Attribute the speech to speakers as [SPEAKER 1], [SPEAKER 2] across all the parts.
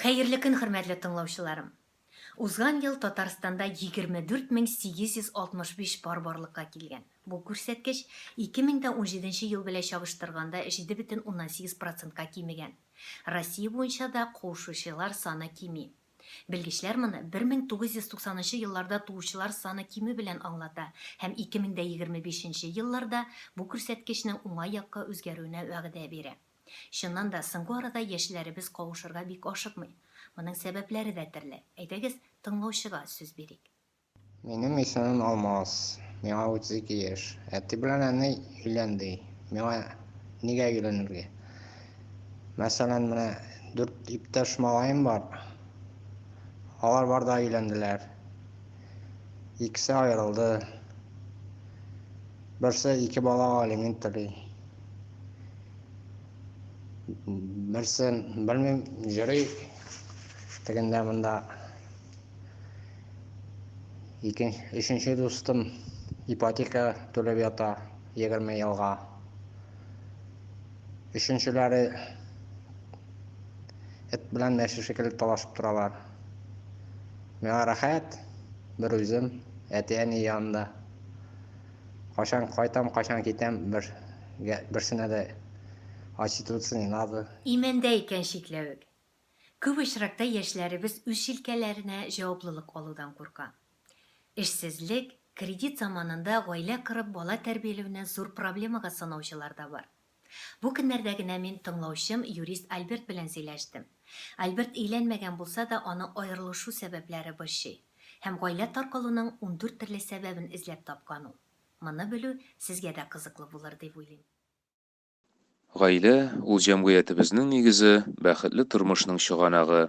[SPEAKER 1] Хәерле көн хөрмәтле тыңлаучыларым! Узган ел Татарстанда 24865 пар барлыкка килгән. Бу күрсәткеч 2017 ел белә чагыштырганда 7,8 процентка кимегән. Россия буенча да куышучылар саны кими. Белгечләр моны 1990 елларда туучылар саны кимү белән аңлата һәм 2025 елларда бу күрсәткечнең уңай якка үзгәрүенә вәгъдә бирә. Чыннан да, соңгы арада яшьләребез кавышырга бик ашыкмый. Моның сәбәпләре дә төрле. Әйдәгез, тыңлаучыга сүз бирик. Минем
[SPEAKER 2] исемем Алмаз. Миңа 32 яшь. Әти белән әни өйлән ди. Миңа нигә өйләнергә? Мәсәлән, менә дүрт иптәш малаем бар. Алар бар да өйләнделәр. Икесе аерылды. Берсе ике балага алимент түли. Берсе, белмим, йөри тегендә монда. Икен, өченче дустым ипотека түләп ята 20 елга. Өченчеләре эт белән мәче шикелле талашып торалар. Миңа рәхәт, бер үзем, әти-әни янында. Кашан кайтам, кашан китәм, бер берсенә дә очитываться не надо. Имәндә икән
[SPEAKER 1] чикләвек. Күп очракта яшьләребез үз чилкәләренә җаваплылык алудан курка. Эшсезлек, кредит заманында гаилә корып бала тәрбиялүне зур проблемага санаучылар да бар. Бу көннәрдә генә мин тыңлаучым юрист Альберт белән сөйләштем. Альберт өйләнмәгән булса да, аны аерылышу сәбәпләре борчый. Һәм гаилә таркалуның ундүрт төрле сәбәбен эзләп тапкан ул. Моны белү сезгә дә кызыклы булыр дип уйлыйм. Гаилә,
[SPEAKER 3] ул җәмгыятебезнең нигезе, бәхетле тормышның чыганагы.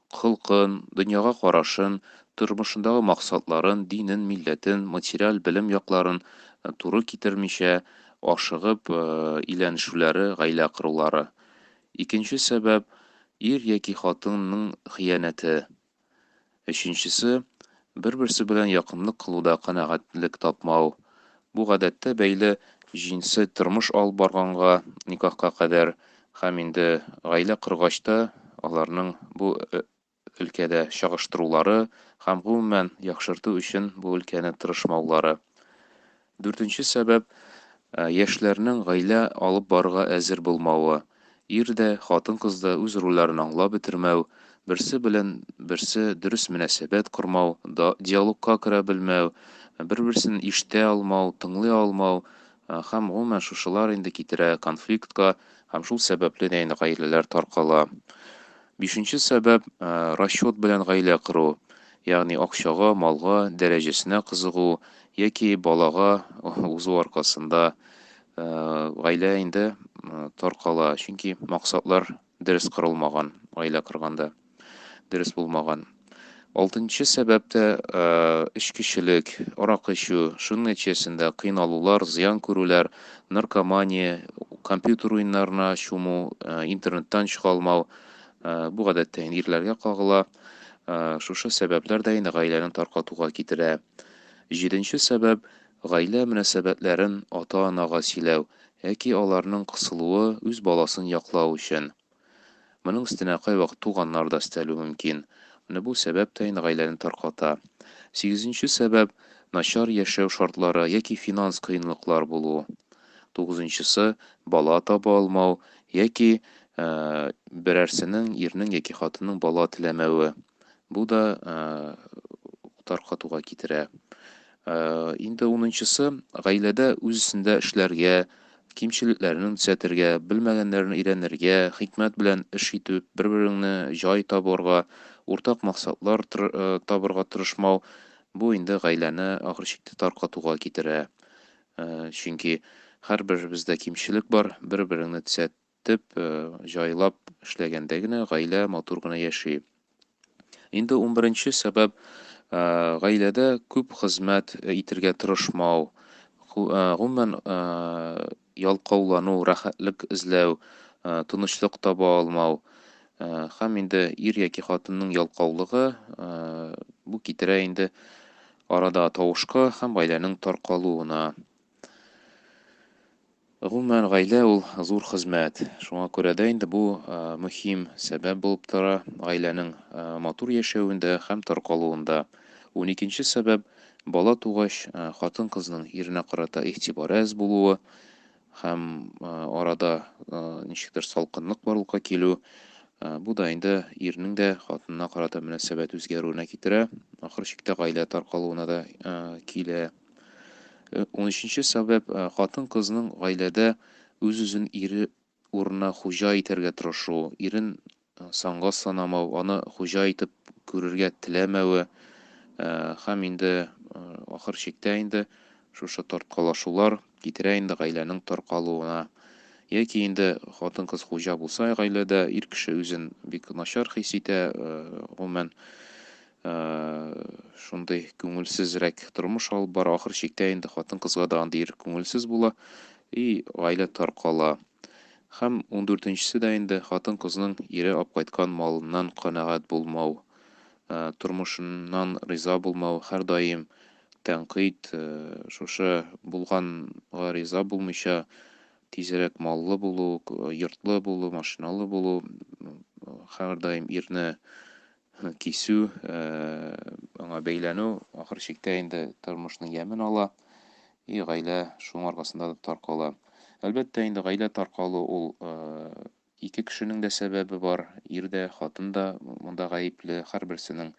[SPEAKER 3] холкын, дөньяга карашын, тормышындагы максатларын, динен, милләтен, материаль белем якларын туры китермичә, ашыгып өйләнешүләре, гаилә корулары. Икенче сәбәп, ир яки хатынның хыянәте. Өченчесе, Бер-берсе белән якынлык кылуда канәгатьлек тапмау, бу гадәттә бәйле җинси тормыш алып барганга, никахка кадәр һәм инде гаилә коргач та аларның бу өлкәдә чагыштырулары һәм гомумән яхшырту өчен бу өлкәне тырышмаулары. Дүртенче сәбәп, яшьләрнең гаилә алып барырга әзер булмавы. Ир дә, хатын-кыз да үз рольләрен аңлап бетермәү, берсе белән берсе дөрес мөнәсәбәт кормау, диалогка керә белмәү, бер-берсен ишетә алмау, тыңлый алмау һәм гомумән шушылар инде китерә конфликтка һәм шул сәбәпле дә инде гаиләләр таркала. Бишенче сәбәп, расчет белән гаилә кору, ягъни акчага, малга, дәрәҗәсенә кызыгу яки балага узу аркасында гаилә инде таркала, чөнки максатлар дөрес корылмаган, гаилә корганда дөрес булмаган. Алтынчы сәбәп тә эчкечелек, арак эчү, шуның нәтиҗәсендә кыйналулар, зыян күрүләр, наркомания, компьютер уеннарына чуму, интернеттан чыга алмау, бу гадәттә инде ирләргә кагыла. Шушы сәбәпләр дә инде гаиләне таркатуга китерә. Җиденче сәбәп, гаилә мөнәсәбәтләрен ата-анага сөйләү яки аларның кысылуы үз баласын яклау өчен. Моның өстенә кайвакыт туганнар да өстәлү мөмкин. Менә бу сәбәп тә инде гаиләне тарката. Сигезенче сәбәп, начар яшәү шартлары яки финанс кыенлыклар булу. Тугызынчысы, бала таба алмау яки берәрсенең, ирнең яки хатынның бала теләмәве. Бу да таркатуга китерә. Инде унынчысы, гаиләдә үз эшендә эшләргә, кимчелекләрен төзәтергә, белмәгәннәрен өйрәнергә, хикмәт белән эш итеп, бер-береңне җай табарга, уртак максатлар табарга тырышмау, бу инде гаиләне ахыр чиктә таркатуга китерә. Чөнки һәрберебездә кимчелек бар, бер-береңне төзәт, Төп җайлап эшләгәндә генә гаилә матур гына яши. Инде унберенче сәбәп, гаиләдә күп хезмәт итергә тырышмау, гомумән, ялкаулану, рәхәтлек эзләү, тынычлык таба алмау һәм инде ир яки хатынның ялкаулыгы, бу китерә инде арада тавышка һәм гаиләнең таркалуына. Гомумән, гаилә ул, зур хезмәт. Шуңа күрә дә инде бу мөһим сәбәп булып тора гаиләнең матур яшәвендә һәм таркалуында. Уникенче сәбәп, бала тугач, хатын-кызның иренә карата игътибары әз булуы һәм арада ничектер салкынлык барлыкка килү. Бу да инде ирнең дә хатынына карата мөнәсәбәт үзгәрүенә китерә, ахыр чиктә гаилә таркалуына да килә. 13 сәбәп, хатын-кызның гаиләдә үз-үзен ире урынына хуҗа итәргә тырышу, ирен санга санамау, аны хуҗа итеп күрергә теләмәве һәм инде ахыр чиктә инде шушы тарткалашулар китерә инде гаиләнең таркалуына. Яки инде хатын-кыз хуҗа булса гаиләдә, ир кеше үзен бик начар хис итә, гомумән, шундый күңелсезрәк тормыш алып бара. Ахыр чиктә инде хатын-кызга да андый ир күңелсез була и гаилә таркала. Һәм 14-нчесе дә инде хатын-кызның ире алып кайткан малыннан канәгать булмау, тормышыннан риза булмау, һәрдаим тәнкыйть, шушы булганга риза булмыйча, тизрәк маллы булу, йортлы булу, машиналы булу, һәрдаим ирне кисү, аңа бәйләнү ахыр чиктә инде тормышның ямен ала, и гаилә шуның аркасында да таркала. Әлбәттә, инде гаилә таркалу ул ике кешенең дә сәбәбе бар, ир дә, хатын да монда гаепле, һәрберсенең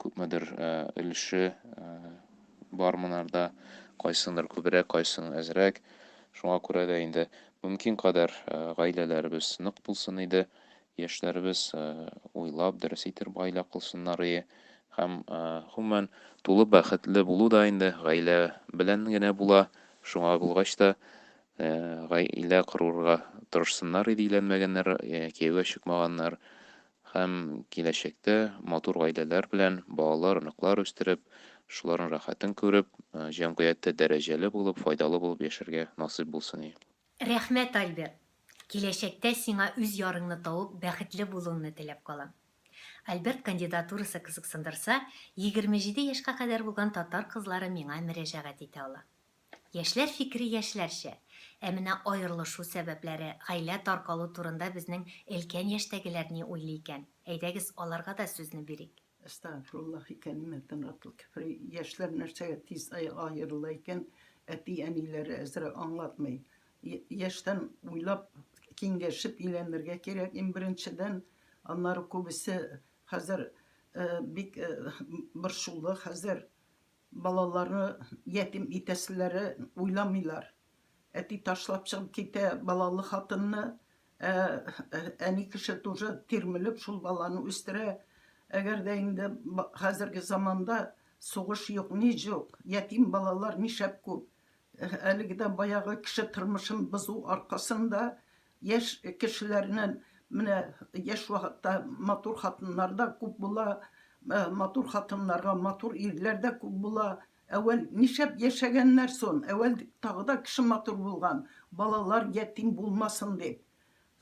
[SPEAKER 3] күпмедер өлеше бар монарда, кайсындыр күбрәк, кайсының әзрәк. Шуңа күрә дә инде мөмкин кадәр гаиләләребез нык булсын иде, Яшьләребез уйлап, дөрес итеп гаилә кылсыннарые һәм, гомумән, тулы бәхетле булу да инде гаилә белән генә була, шуңа булгач та, гаилә корырга тырышсыннарые ди өйләнмәгәннәр, кияүгә чыкмаганнар һәм киләчәктә матур гаиләләр белән балалар, оныклар үстереп, шуларның рәхәтен күреп, җәмгыятьтә дәрәҗәле булып, файдалы булып яшәргә насыйп булсын и. Рәхмәт,
[SPEAKER 1] Альберт! Киләчәктә сиңа үз ярыңны табып бәхетле булуыңны теләп калам. Альберт кандидатурасы кызыксындырса, егерме җиде яшькә кадәр булган татар кызлары миңа мөрәҗәгать итә ала. Яшьләр фикере яшьләрчә, ә менә аерылышу сәбәпләре, гаилә таркалу турында безнең өлкән яшьтәгеләр ни уйлый икән, әйдәгез, аларга да сүзне бирик. Әстәгъфируллаһи
[SPEAKER 4] кәлимәтен ратл кефри Яшьләр нәрсәгә тиз аерыла икән, әти-әниләре әзрәк аңлатмый. Яшьтән уйлап, киңәшеп өйләнергә кирәк, иң беренчедән. Аннары күбесе хәзер бик борчулы, хәзер Балаларны ятим итәселәре уйламыйлар. Әти ташлап чыгып китә балалы хатынны, ә әни кеше тоже тирмелеп шул баланы үстерә. Әгәр дә инде хәзерге заманда сугыш юк, ни җук, ятим балалар нишәп күп. Әлеге дә баягы кеше тормышын бозу аркасында Яшь кешеләрнен менә яшь вакытта матур хатыннар да күп була, матур хатыннарга матур ирләр дә күп була. Әвәл нишәп яшәгәннәр сон, әвәл тагы да кеше матур булган, балалар ятим булмасын дип.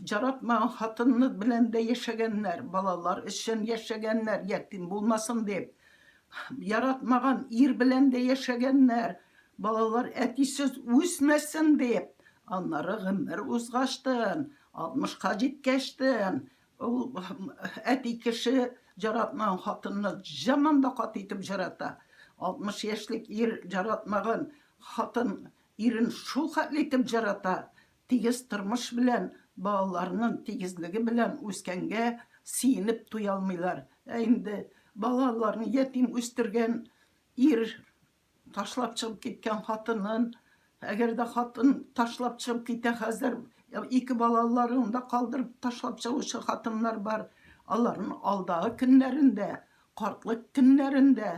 [SPEAKER 4] Җаратмаган хатынны белән дә яшәгәннәр, балалар өчен яшәгәннәр, ятим булмасын дип. Яратмаган ир белән дә яшәгәннәр, балалар әтисез үсмәсен дип. Аннары гомер узгачтын, 60 ка җиткәчтен, ул әти кеше җаратмаган хатынны җаман да каты итеп җарата. 60 яшьлек ир җаратмаган хатын ирен шул хәтле итеп җарата, Тигез тормыш белән, балаларының тигезлеге белән үскәнгә сөенеп туя алмыйлар. Ә инде балаларын ятим үстергән ир, ташлап чыгып киткән хатынын, әгәр дә хатын ташлап чыгып китә хәзер, ике балаларын да калдырып ташлап чыгучы хатыннар бар, аларның алдагы көннәрендә, картлык көннәрендә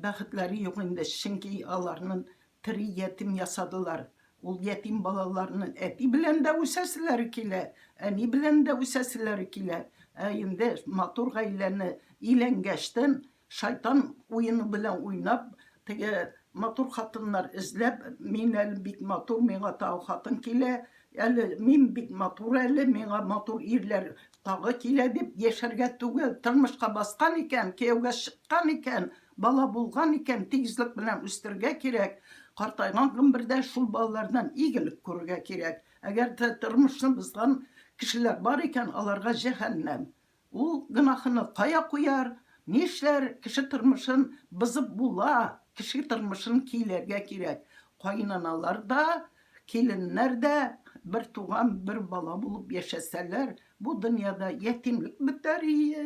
[SPEAKER 4] бәхетләре юк инде, чөнки аларның Тере ятим ясадылар. Ул ятим балаларны әти белән дә үсәселәре килә, әни белән дә үсәселәре килә. Ә инде матур гаиләне иләнгәчтен, шайтан уены белән уйнап, теге матур хатыннар эзләп, мин әле бик матур, миңа тагы хатын килә, әле мин бик матур әле, миңа матур ирләр тагы килә, дип яшәргә түгел, тормышка баскан икән, кияүгә чыккан икән, Бала булган икән, тигезлек белән үстергә кирәк, картайган гомбердә шул балалардан игелек күрергә кирәк. Әгәр дә тормышны бозган кешеләр бар икән, аларга җәһәннәм. Ул гөнаһыны кая куяр? Нишләр? Кеше тормышын бозып була, кеше тормышын кийләргә кирәк. Каенаналар да, киленнәр дә бер туган, бер бала булып яшәсәләр, бу дөньяда ятимлек бетәр ие.